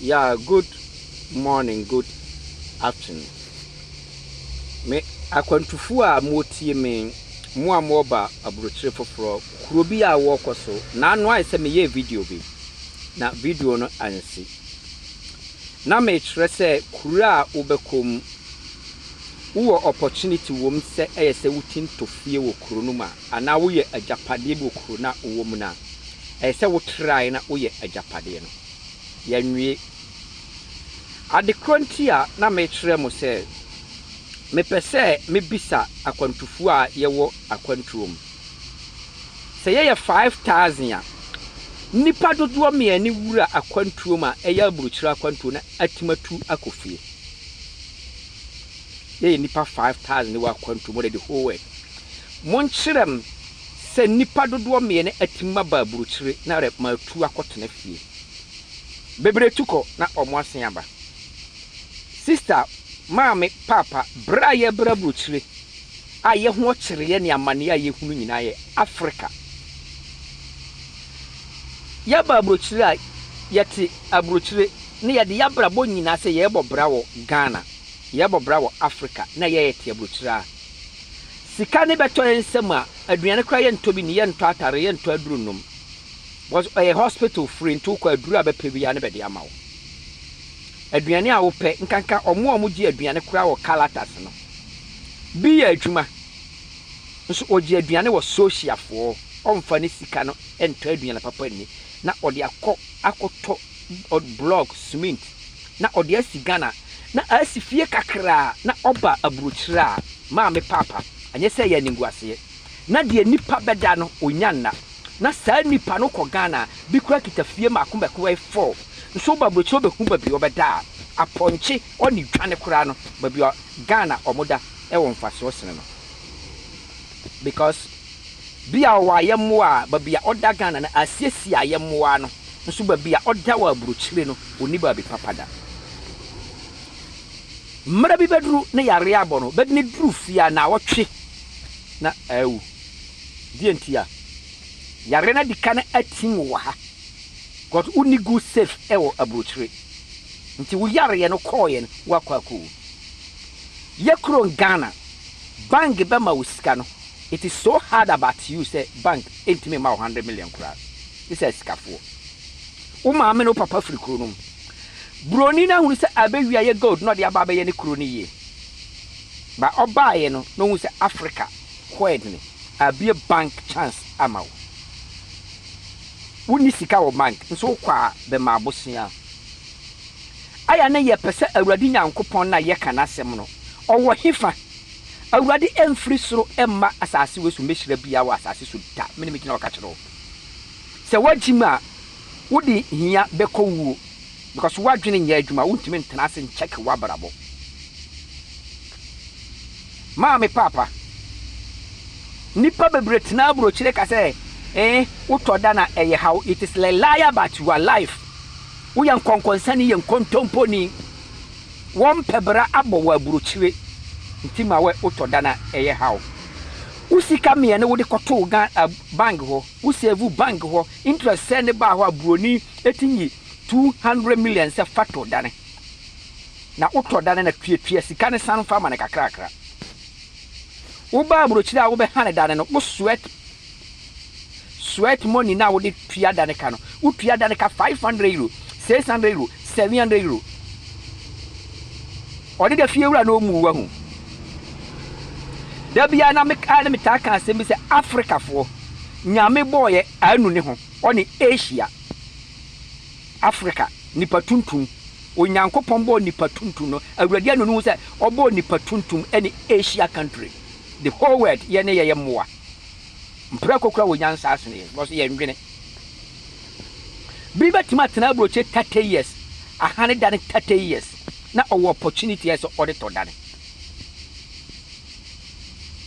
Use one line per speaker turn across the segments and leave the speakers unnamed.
Yeah good morning good afternoon me akwantufo a motie me mo a moɔba aburokyire foforɔ kuro bi a wɔkɔ so na ano ayɛ sɛ meyɛ video bi na video no ansi na mekyerɛ sɛ kuro a wobɛkɔ mu wowɔ opportunity wom sɛ ɛyɛ sɛ wotinto fie wɔ kuro no mu a anaa woyɛ agyapadeɛ bi wɔ kuro no a wowɔ mu no a, ɛsɛ sɛ wotrae na woyɛ agyapadeɛ no. Yɛanwie. Ade korɔ nti a na mekyerɛ mo sɛ mepɛ sɛ mebisa akwantufoɔ a yɛwɔ akwantuo mu. Sɛ yɛyɛ five thousand a, nnipa dodoɔ mmiɛne wura akwantuo mu a ɛyɛ aburokyire akwantuo na atim atu akɔ fie. Yɛyɛ nnipa five thousand wɔ akwantuo mu, wɔde the whole world. Monkyerɛ me sɛ nnipa dodoɔ meɛ na atim aba aburokyire na rɛ matu akɔ tena fie. Bebree tu kɔ na ɔmo asen aba. Sista, maame, paapa, berɛ a yɛbrɛ aburokyire a yɛ ho ɔkyereɛ ne amaneɛ a yɛhunu nyinaa yɛ Africa. Yɛba aburokyire a yɛte aburokyire na yɛde y'abrabɔ nyinaa sɛ yɛrebɔ bra wɔ Ghana, yɛrebɔ bra wɔ Africa na yɛɛte aburokyire a. Sika no bɛtɔ yɛn nsam a, aduane koraa yɛntɔ bi nni, yɛntɔ atare, yɛntɔ aduru nnom. Because ɛyɛ hospital free nti wokɔ a aduru a bɛpɛ biara na bɛde ama wo. Aduane a wopɛ, nkanka wɔn a wɔgye aduane koraa wɔ Calatas no, bi yɛ adwuma nso ɔgye aduane wɔ Sosiafoɔ, ɔmfa ne sika no ntɔ aduane papa nni na ɔde akɔ akɔtɔ ɔde blɔk, cement, na ɔde asi Ghana na asi fie kakra a na ɔba aburokyire a Maame Paapa, anyɛ sɛ ɛyɛ animguaseɛ, na deɛ nipa bɛda no ɔnya nna, na saa nipa no kɔ Ghana a bi koraa kita fie mmaako mmaako bɛyɛ four, nso woba aburokyire wobɛhu baabi a ɔbɛda a apɔnkye ɔne dwane koraa no baabi a Ghana wɔda wɔ mfasoɔ sene no. because bi a ɔwɔ ayɛmmoa a baabi a ɔda Ghana no asiesie ayɛmmoa no nso baabi a ɔda wɔ aburokyire no ɔnni baabi papa da. Mmerɛ bi bɛduru ne yareɛ abɔ no bɛde no duru fie a naawɔtwe na awu. Deɛ nti a yareɛ no adi kan atim wo wɔ ha because wonni good safe wɔ aburokyire nti wo yareɛ no kɔɔeɛ no woakɔ akɔwu. Yɛ kurom Ghana. Bank bɛma wo sika no it is so hard about you sɛ bank ntumi mma wo hundred million koraa gye sɛ asikafoɔ. Wo maame ne wo papa firi kuro no mu. Broni no ahunu sɛ abɛwia yɛ gold na ɔde aba abɛyɛ ne kuro no yie. But ɔbaeɛ no na ɔhu sɛ Africa hɔ ɛdene. Abue bank chance ama wo. Wonni sika wɔ bank nso wokɔ a bɛma abosea. Ayɛ na yɛpɛ sɛ Awurade Nyankopɔn na yɛka n'asɛm no, ɔwɔ he fa? Awurade mfiri soro mma asase wei so mmɛhyira biaa wɔ asase so da. Mene megyina hɔ ka kyerɛ wo. Sɛ woagyim a, wode hia bɛkɔ wuo because woadwene nyɛ adwuma, wontumi ntena ase nkyɛke woabrabɔ. Maame Paapa, nnipa bebree tena aburokyire ka sɛ, ee, wotɔ da na ɛyɛ haw, it is a lie about your life. Woyɛ nkɔnkɔnsani yɛ nkontomponi. Wɔmpɛ bra abɔ wɔ aburokyire nti ma wɛ wotɔ dan a ɛyɛ haw. Wo sika meɛ ne wode kɔtoo Ghana a bank hɔ wo save bank hɔ interest sɛn ne baa hɔ a buroni ɛtumi yi two hundred million sɛ fa tɔ dan na wotɔ dan na tuatua sika no san fa ma no kakrakra. Wobaa aburokyire a wobɛhane dan no wo sweat Sweat money no a wode tua da no ka no, wotua da no ka five hundred euro, six hundred euro, seven hundred euro. Ɔde da fie wura na ɔmmu wahu. Da biara na mekaa ne metaa ka asɛm bi sɛ Afrikafoɔ, Nyame bɔɔyɛ anu ne ho, ɔne Asia. Afrika, nipa tuntum. Onyankopɔn bɔɔ nipa tuntum no, Awurade anu ne ho sɛ ɔbɔɔ nipa tuntum ne Asia country. The whole world, yɛne yɛyɛ mmoa. Mprako kura wɔ nyansa asen yɛn because yɛn dwene. Bi bɛtumi atena aburokyire thirty years, ahane dane thirty years na ɔwɔ opportunity a sɛ ɔde tɔ dane.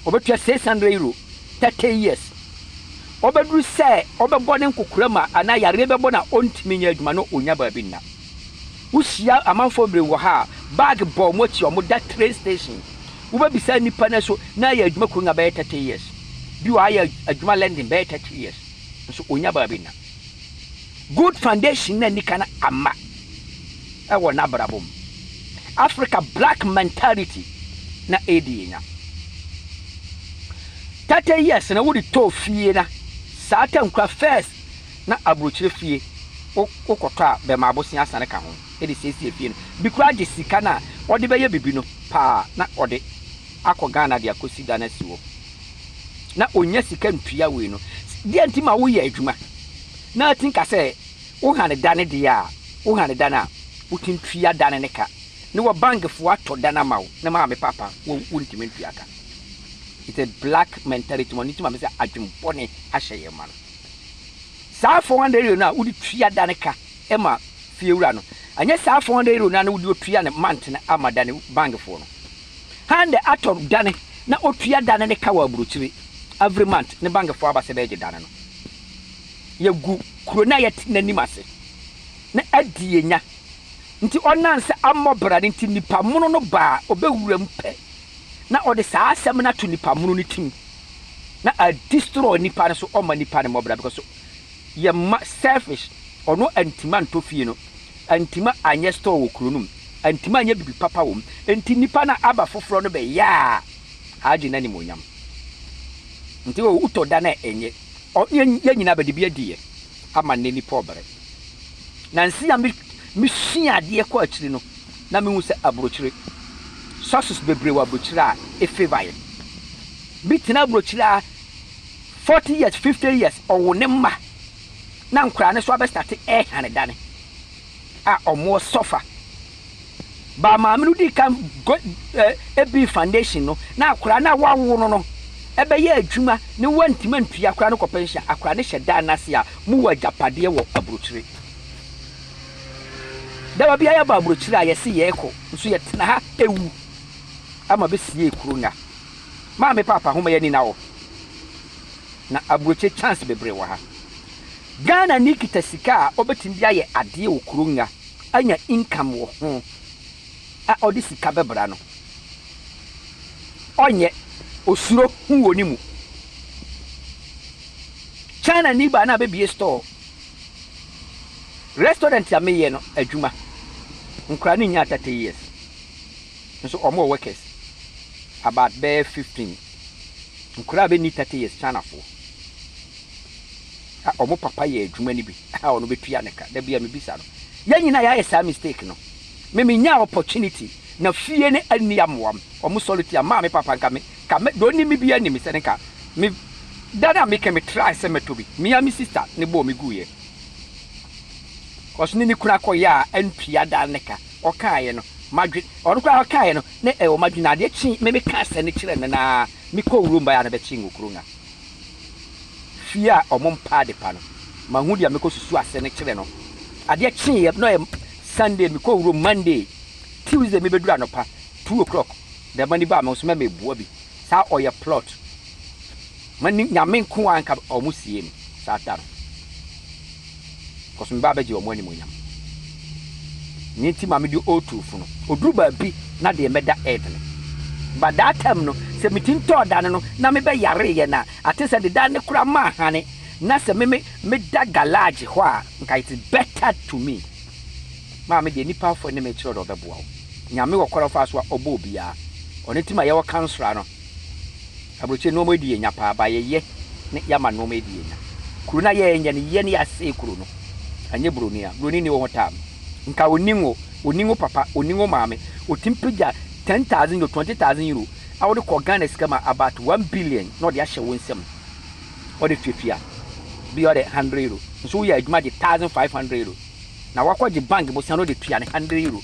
Ɔbɛtua six hundred euro thirty years. Ɔbɛduru sɛ ɔbɛbɔ ne nkokora mu a anaa yareɛ bɛbɔ no a ɔntumi nyɛ adwuma na ɔnya baabi nna. Wohyia amanfoɔ bebree wɔ ha a, bag bɔ wɔn akyi a wɔda train station. Wobɛbisa nnipa no nso, na ayɛ adwuma Kurunga bɛyɛ thirty years. Bi wɔ ha ayɛ adwuma London bɛyɛ thirty years, nso ɔnnya baabi nna. Good foundation na nni kan amma wɔ n'abrabɔ mu. Africa black mentality na ɛredi yɛn nya. Thirty years no wode tɔɔ fie na saa tankura first na aburokyire fie wo wo kɔtɔ a bɛma abosea asane ka ho de siesie fie no bi koraa gye sika no a ɔde bɛyɛ bibi no paa na ɔde akɔ Ghana de akɔsi dan asi hɔ na ɔnya sika ntua wei no deɛ nti ma woyɛ adwuma na atin ka sɛ wo hane dane deɛ a wo hane dane a wotin tua dane ne ka ne wɔ bankfoɔ atɔ dane ama wo ne maame papa wo wo ntimi ntua ka it's a black mentality ma no nti ma me sɛ adwen bɔne ahyɛ yɛ ma no. Saa four hundred euro no a wode tua da no ka ma fiewura no, ɛnyɛ saa four hundred euro no ara na wode otua no month no ama da no bankfoɔ no. Han de atɔ da no na otua da no ne ka wɔ aburokyire every month ne bankfoɔ aba sɛ bɛɛgye da no no. Yɛgu kuro no a yɛte no anim ase na adi yɛnya. Nti ɔnam sɛ ammɔ bra no nti nnipa mono no baa ɔbɛwura mu pɛ na ɔde saa asɛm no ato nipa mono no tim na a destroy nipa no so ɔma nipa no mɔbra because yɛ ma selfish ɔno antima ntɔ fie no antima anyɛ store wɔ kuro no mu antima anyɛ bibi papa wɔ mu nti nipa no aba foforɔ no bɛyɛ a agye no animonyam nti wotɔ da no a ɛnyɛ yɛ nyina bɛde bi adiɛ ama nnɛ nnipa ɔbrɛ. Nansi a misua adeɛ kɔɔ akyiri no, na mihu sɛ aburokyire, sauces bebree wɔ aburokyire a efavour yɛn. Bi tena aburokyire a forty years, fifty years, ɔwo ne mma na nkwadaa no nso abɛstate rehane dane. a wɔwɔ Sɔfa. Baa maame no dii kan gu ɛ bii foundation no na akwadaa no a wɔawo no no bɛyɛ adwuma ne wɔantumi antua akwadaa no kɔ pɛnhyen. Akwadaa no hyɛ dan no ase a mowɔ agyapadeɛ wɔ aburokyire. Daba biara yɛba aburokyire a yɛse yɛrekɔ nso yɛtena ha ɛwu ama bɛsiee kuro no a maame paapa ho ma yɛani na wɔ na aburokyire chance bebree wɔ ha. Ghana ni kita sika a ɔbɛtumi de ayɛ adeɛ wɔ kuro nga anya income wɔ ho a ɔde sika bɛbra no ɔnyɛ ɔsuro ho wɔ ne mu. China ni baa na abɛbie store restaurant a meyɛ no adwuma nkwadaa no nyaa 30 years nso wɔn wɔ workers about bɛyɛ 15 nkwadaa a bɛnni 30 years Chinafoɔ. a wɔn papa yɛ adwuma no bi a ɔno bɛtua ne ka. Da bi a mebisa no, yɛn nyinaa yɛayɛ saa mistake no. Me menyaa opportunity na fie no anni amoa m, wɔn sɔre tia maa me papa nka me ka me, deɛ ɔnim me biara nim sɛ ne ka me da no a meka me try sɛ mɛtɔ bi. Me ara me sister ne bɔɔ me guiɛ cause ne ne kunu akɔ yɛ a antua da ne ka. Ɔkaaeɛ no madwe, ɔno koraa ɔkaaeɛ no na ɛwɔ madwe na adeɛ kyee me mekaa sɛ ne kyerɛ no no ara mekɔɔ wurom baeɛ a na bɛkyee nwokuro nga fie a ɔmo mpa ade pa no, mahu deɛ mekɔ susu ase no kyerɛ no. Adeɛ kyeeɛ, na ɔyɛ Sunday, mekɔ wurom Monday, Tuesday me bɛduru anɔpa two o'clock, bɛɛma ni baa me ho so, mɛ me boa bi, saa ɔyɛ plot, mɛ ni Nyame nko ara nka ɔmo sie no saa da no. Cause me ba bɛgye wɔn animuonyam. Nea nti maame de otu fo no, oduru baabi na deɛ mɛda it no. But that time no, sɛ me ti ntɔɔ da no no, na me bɛ yare yɛ na ate sɛ deda no koraa ma ahane. Na sɛ me me me da galage hɔ a, nka it is better to me. Maame deɛ nipa fo ne me kyerɛ ɔdɔ ɔbɛboa wo. Nyame wɔ kwan a ɔfa so a ɔbɔ obiara. Ɔno nti ma yɛwɔ kansra no. Aburokyire nnoɔma di yɛ nya paa ba yɛ yɛ ne yɛ ama nnoɔma di yɛ nya kuro na yɛ nyɛ ne yɛ ne yɛ asee kuro no anyɛ buroni a buroni ni wɔhɔ time nka ɔni ngo ɔni ngo papa ɔni ngo maame ɔtim pigya ten thousand euro twenty thousand euro a wɔde kɔ Ghana sika ma about one billion na ɔde ahyɛ wɔn nsam ɔde fiafia bi ɔde hundred euro nso woyɛ adwuma gye thousand five hundred euro na wakɔ gye bank bosan ɔde tua ne hundred euro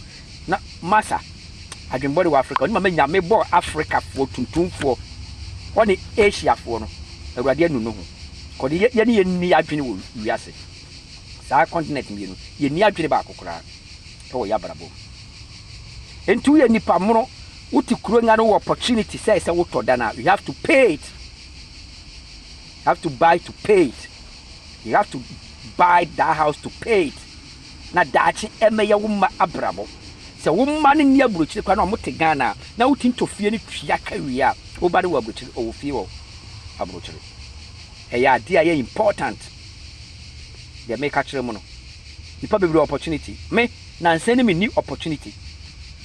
na masa adwen bɔne wɔ Afrika, ɔne ma manya me bɔ Afrikafoɔ tuntumfoɔ ɔne Asiafoɔ no Awurade anu no ho, kɔde yɛ yɛne yɛn nni adwene wɔ wiase saa continent mmienu yɛnni adwene baako koraa ɛwɔ yɛ abrabɔ mu. Enti woyɛ nipa mono, wote kuro nga no wɔ opportunity sɛ sɛ wotɔ dan a you have to pay it, you have to buy to pay it, you have to buy that house to pay it. na daakye ɛmɛyɛ wo mma abrabɔ. Sɛ wo mma no nni aburokyire koraa na wɔte Ghana a, na wotumi tɔ fie no tua ka wie a, wo ba no wɔ aburokyire, ɔwɔ fie wɔ aburokyire. Ɛyɛ adeɛ a ɛyɛ important. Deɛ meka kyerɛ mo no, nnipa bebree wɔ opportunity. Me, nansa yi na menni opportunity.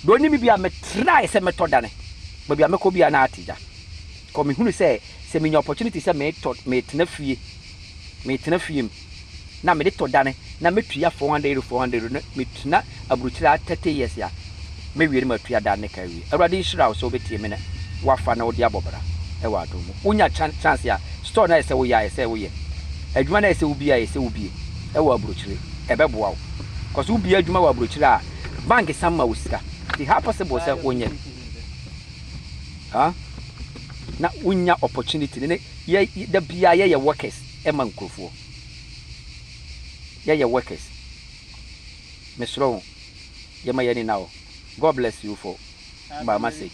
Deɛ ɔnim me biara, metrae sɛ mɛtɔ dane. Baabi a mɛkɔ biara na ate gya. Because mehunu sɛ, sɛ menya opportunity sɛ metɔ, metena fie, metena fie mu. na mede tɔ dane na metua four hundred euro four hundred euro na metena aburukyire ha thirty years a, mɛwie na matua dane no ka awie. Awurade nhyira wo sɛ wobɛtie me na woafa na wode abɔ bra wɔ adom mu. Wonya kya chance a, store no a ɛyɛ sɛ woyɛ a, ɛyɛ sɛ woyɛ. Adwuma no a ɛyɛ sɛ wobue a, ɛyɛ sɛ wobue wɔ aburukyire. Ɛbɛboa wo. Cause wobue adwuma wɔ aburukyire a, bank san ma wo sika. Nti how possible sɛ wonyɛ ah na wonya opportunity no ne yɛ da biara yɛyɛ workers. ma nkurɔfoɔ. Yɛyɛ workers. Mesrɛ wo yɛma yɛn ani na hɔ. God bless you for ba message.